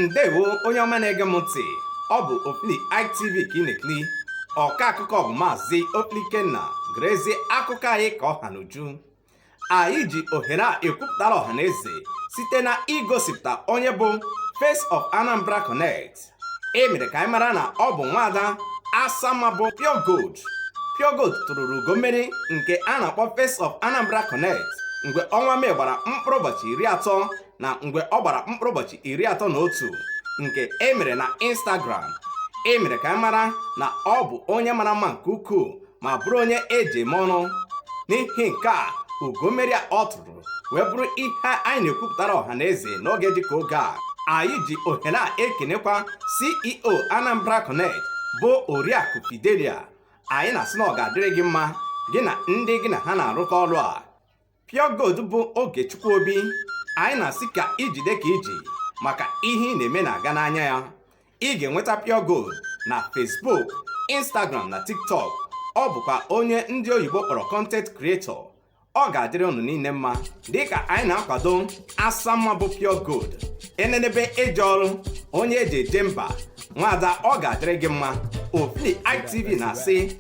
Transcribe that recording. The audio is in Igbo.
ndewo onye ọma na-ege m ntị ọ bụ Ofili ITV ka ị na-ekiri ọka akụkọ bụ maazị Ofili Ikenna gerezie akụkọ anyị ka ọ ha n'uju anyị ji ohere a ekwupụtara ọha na eze site n'igosipụta onye bụ Face of Anambra Connect e mere ka anyị mara na ọ bụ nwaada asamma bụ Pure Gold Pure Gold tụrụrụ ugo mmeri nke a na-akpọ Face of Anambra Connect mgbe ọnwa Mee gbara mkpụrụ ụbọchị iri atọ na mgbe ọ gbara mkpụrụ ụbọchị iri atọ na otu nke e mere na Instagram e mere ka anyị mara na ọ bụ onye mara mma nke ukwuu ma bụrụ onye eji eme ọnụ n'ihi nke a ugo mmeri a ọ tụrụ wee bụrụ ihe anyị na-ekwupụtara ọha na eze n'oge dịka oge a anyị ji ohere a ekenekwa ceo anambra connect bụ oriakụ fidelia anyị na-asị na ọ ga-adịrị gị mma gị na ndị gị na ha na-arụkọ ọrụ a Pure Gold bụ Ogechukwu Obi anyị na-asị ka i jide ka i ji maka ihe ị na-eme na-aga n'anya ya ị ga-enweta Pure Gold na Facebook Instagram na TikTok ọ bụkwa onye ndị oyibo kpọrọ content creator ọ ga-adịrị unu niile mma dịka anyị na-akwado asamma bụ Pure Gold enenebe eje ọrụ onye eji eje mba nwaada ọ ga-adịrị gị mma Ofili ITV na-asị